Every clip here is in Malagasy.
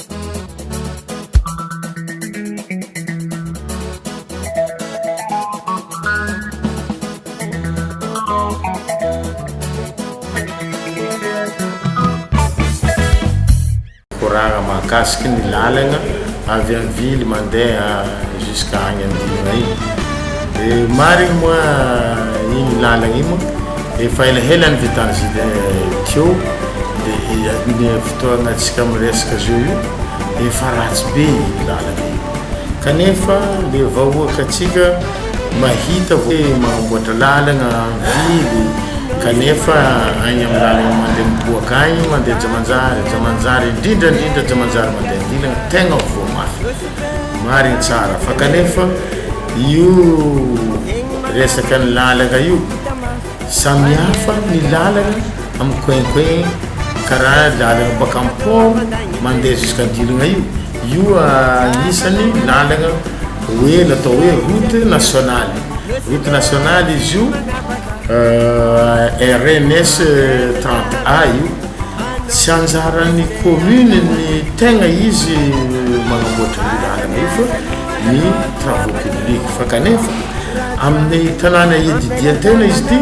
Mikoragna mahakasiky ny lalagna avy amin'ny ville mandeha jusqu'à agny andiana igny. Dia marigny moa igny lalagna igny moa? Efa elaela ny vitan'izy teo dia ny fotoagna antsika miresaka zao io efa ratsy be io lalana io kanefa le vahoaka antsika mahita hoe magnamboatra lalagna mivily kanefa agny amin'ny lalagna mandeha miboaka agny mandeha Jamanjary, Jamanjary indrindra indrindra Jamanjary mandeha an-dilagna tegna voa mafy marigny tsara fa kanefa io resakan'ny lalagna io. Samihafa ny lalana amin'ny coin coin karaha lalana baka amin'ny port mandeha jusqu'Andilogna io, io anisany lalana hoe natao hoe route nationale, route nationale izy io RNS 30 A io, tsy anjaran'ny commune ny tegna izy manamboatra io lalana io fa. ny travaux publics fa kanefa amin'ny tanàna ididian-tena izy ity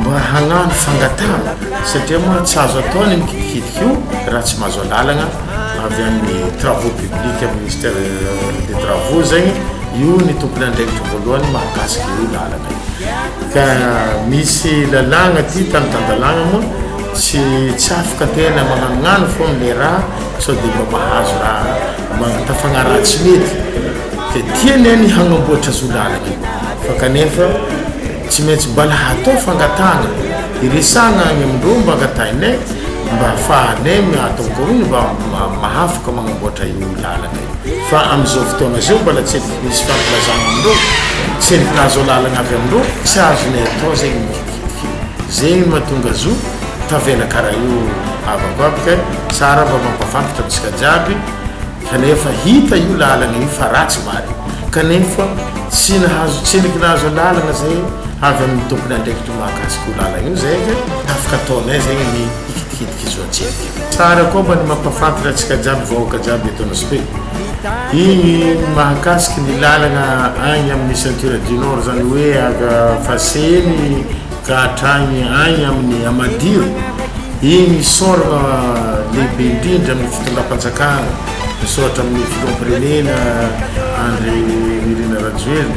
mba hagnano fangatahana satria moa tsy azo atao ny mikidikidiky io raha tsy mahazo alalagna avy amin'ny travaux publics amin'ny ministère des travaux zegny io ny tompon'andraikitry voalohany mahakasika io lalagna ka misy lalàgna ty tany tan-dalàgna moa tsy tsy afaka tena magnanognano foagna le raha sao dia mba mahazo raha Mahavita fagnaraha tsy mety fe tia ny ainy hagnamboatra zo lalana fa kanefa tsy maintsy mbala hatao fangatahana hiresahana agny amindreo mba angatahinay mba hafahanay miatao kaony mba mahafoka magnamboatra io lalana io fa amizao fotoana zao mbala tsy misy fampilazana amindreo tsy ny azo lalana avy amindreo tsy azonay atao zegny Zegny mahatonga zo tavela karaha io havako aby kay tsara mba mampafantatra antsika jiaby kanefa hita io lalagna io fa ratsy marigny kanefa tsy nahazo tsiliky nahazo lalagna zay avy aminy tompony andraikitry mahakasika io lalagna io zay ka afaka ataonay zegny ny hikitikitana kizo atsika. Tsara koa mba ny mampafantatra antsika jiaby vahoaka jiaby eto nosp igny mahakasiky ny lalagna agny amin'ny ceinture du nord zany hoe avy a Faseny ka hatragny agny amin'ny Amadiro igny isaoragna lehibe indrindra amin'ny fitondram-panjakana misaotra amin'ny filoham-pirenena Andry Nirina Rajoelina.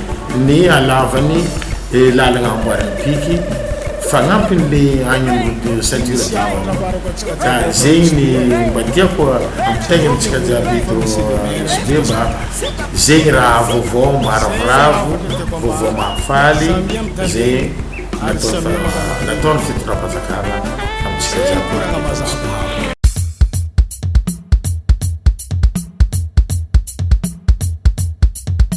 ny hanaovany lalagna amboarin'ny piky fagnampin'le agny am route de ceinture d'or ka zegny ny mba tiako ampitaigny amintsika jiaby eto Anosibe mba zegny raha vaovao maravoravo vaovao mahafaly ze natao nataon'ny fitondram-panjakana amintsika jiaby eto Anosibe